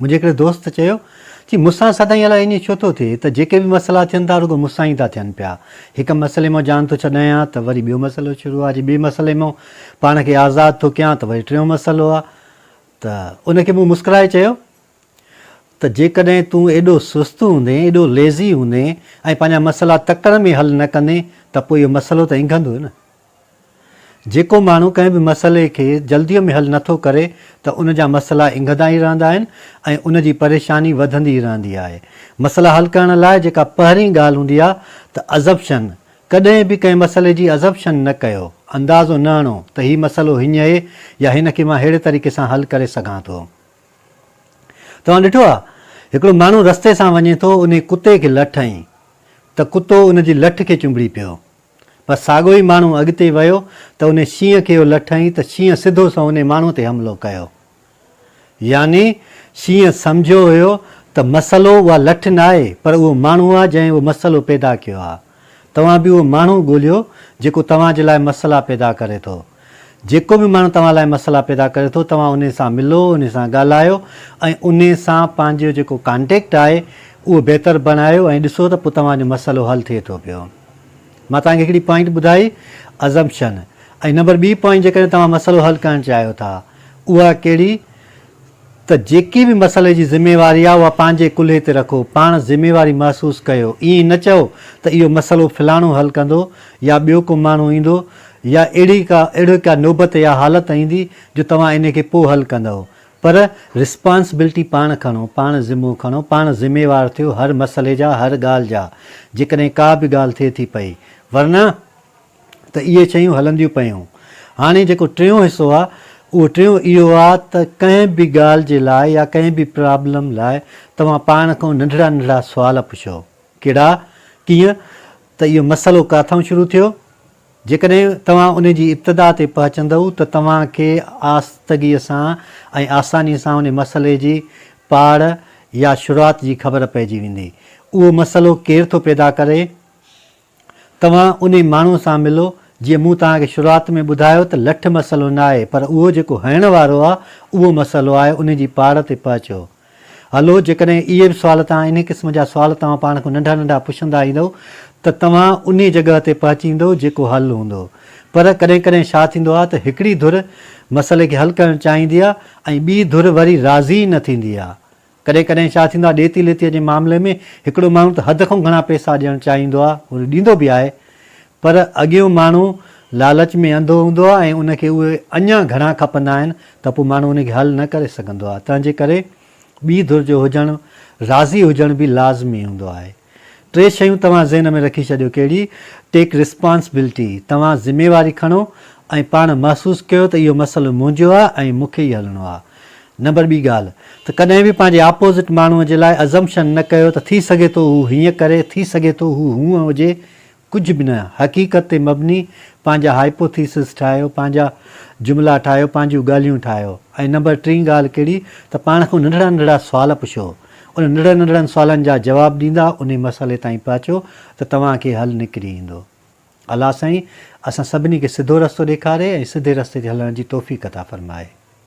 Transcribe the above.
منهنجي هڪڙي دوست چيو، چي مون سان سدائين الاء ائين ڇو ٿو ٿئي ته جيڪي به مسئلا ٿين ٿا رڳو مون سان ئي ٿا ٿين پيا. هڪ مسئلي مان جان ٿو ڇڏايان ها ته وري ٻيو مسئلو شروع آ، جي ٻئي مسئلي مان پاڻ کي آزاد ٿو ڪيان ته وري ٽيون مسئلو آ. ته ان کي مون مسڪرائي چيو ته جيڪڏهن تون ايڏو سست هوندين، ايڏو ليزي هوندين ۽ پنهنجا مسئلا تڪڙ ۾ حل نه ڪندين ته پوء اهو مسئلو ته انگهندو نه. جيڪو ماڻهو ڪنهن به مسئلي کي جلديء ۾ حل نٿو ڪري ته ان جا مسئلا انگهدا ئي رهندا آهن ۽ ان جي پريشاني وڌندي ئي رهندي آهي. مسئلا حل ڪرڻ لاء جيڪا پهرين ڳالهه هوندي آهي ته Assumption، ڪڏهن به ڪنهن مسئلي جي Assumption نه ڪيو، اندازو نه هڻو ته هي مسئلو هينئين يا هن کي مان ههڙي طريقي سان حل ڪري سگهان ٿو. توهان ڏٺو آهي هڪڙو ماڻهو رستي سان وڃي ٿو انهي ڪتي کي لٺ هنئي ته ڪتو ان جي لٺ کي چنبڙي پيو. پر ساڳيو ئي ماڻهو اڳتي ويو ته انهي شينهن کي اهو لٺائين ته شينهن سڌو سنئون انهي ماڻهو تي حملو ڪيو. يعني شينهن سمجهيو هيو ته مسئلو اها لٺ نه آهي پر اهو ماڻهو آهي جنهن اهو مسئلو پيدا ڪيو آهي. توهان به اهو ماڻهو ڳوليو جيڪو توهان جي لاء مسئلا پيدا ڪري ٿو. جيڪو به ماڻهو توهان لاء مسئلا پيدا ڪري ٿو توهان انهي سان ملو انهي سان ڳالهايو ۽ انهي سان پنهنجو جيڪو ڪانٽيڪٽ آهي اهو بهتر بڻايو ۽ ڏسو ته پوء توهان جو مسئلو حل ٿئي ٿو پيو مان توهان کي هڪڙي پوائنٽ ٻڌائي Assumption ۽ نمبر ٻي پوائنٽ جيڪڏهن توهان مسئلو حل ڪرڻ چاهيو ٿا اها ڪهڙي ته جيڪي به مسئلي جي ذميواري آ اها پنهنجي ڪلهي تي رکو، پاڻ ذميواري محسوس ڪيو، ائين نه چئو ته اهو مسئلو فلاڻو حل ڪندو يا ٻيو ڪو ماڻهو ايندو يا اهڙي ڪا اهڙي ڪا نوبت يا حالت ايندي جو توهان انهي کي پوء حل ڪندؤ پر رسپانسبلٽي پاڻ کڻو، پاڻ ذمو کڻو، پاڻ ذميوار ٿيو هر مسئلي جا هر ڳالهه جا جيڪڏهن ڪا به ڳالهه ٿئي ٿي پئي ورنه. ته اهي شيون هلنديون پيون. هاڻي جيڪو ٽيون حصو آ اهو ٽيون اهو آ ته ڪنهن به ڳالهه جي لاء يا ڪنهن به پرابلم لاء توهان پاڻ کان ننڍڙا ننڍڙا سوال پڇو. ڪهڙا؟ ڪيئن ته اهو مسئلو ڪاٿئون شروع ٿيو؟ جيڪڏهن توهان ان جي ابتدا تي پهچندؤ ته توهان کي آستگيء سان ۽ آسانيء سان ان مسئلي جي پاڙ يا شروعات جي خبر پئجي ويندي. اهو مسئلو ڪير ٿو پيدا ڪري؟ توهان انهي ماڻهو سان ملو جيئن مون توهان کي شروعات ۾ ٻڌايو ته لٺ مسئلو نه آهي پر اهو جيڪو هڻڻ وارو آهي اهو مسئلو آهي انهي جي پاڙ تي پهچو هلو جيڪڏهن اهي به سوال توهان انهي قسم جا سوال توهان پاڻ کان ننڍا ننڍا پڇندا ايندؤ ته توهان انهي جڳهه تي پهچي ايندؤ جيڪو حل هوندو پر ڪڏهن ڪڏهن ڇا ٿيندو آهي ته هڪڙي ڌر مسئلي کي حل ڪرڻ چاهيندي آهي ۽ ٻي ڌر وري راضي ئي نه ٿيندي آهي ڪڏهن ڪڏهن ڇا ٿيندو آهي ڏيتي ليتيء جي معاملي ۾ هڪڙو ماڻهو ته حد کان گهڻا پئسا ڏيڻ چاهيندو آهي ۽ ڏيندو به آهي پر اڳيون ماڻهو لالچ ۾ انڌو هوندو آهي ۽ ان کي اهي اڃا گهڻا کپندا آهن ته پوء ماڻهو ان کي حل نه ڪري سگهندو آهي تنهنجي ڪري ٻي ڌر جو هجڻ راضي هجڻ به لازمي هوندو آهي. ٽي شيون توهان ذهن ۾ رکي ڇڏيو ڪهڙي؟ Take Responsibility، توهان ذميواري کڻو ۽ پاڻ محسوس ڪيو ته اهو مسئلو منهنجو آهي ۽ مون کي ئي هلڻو آهي. نمبر ٻي ڳالهه ته ڪڏهن به پنهنجي آپوزٽ ماڻهوء جي لاء Assumption نه ڪيو ته ٿي سگهي ٿو هو هيئن ڪري، ٿي سگهي ٿو هو هونء هجي، ڪجهه به نه، حقيقت تي مبني پنهنجا هائپوٿيسز ٺاهيو، پنهنجا جملا ٺاهيو، پنهنجيون ڳالهيون ٺاهيو ۽ نمبر ٽين ڳالهه ڪهڙي ته پاڻ کان ننڍڙا ننڍڙا سوال پڇو، ان ننڍڙن ننڍڙن سوالن جا جواب ڏيندا انهي مسئلي تائين پهچو ته توهان کي حل نڪري ايندو. الله سائين اسان سڀني کي سڌو رستو ڏيکاري ۽ سڌي رستي تي هلڻ جي توفيق عطا فرمائي.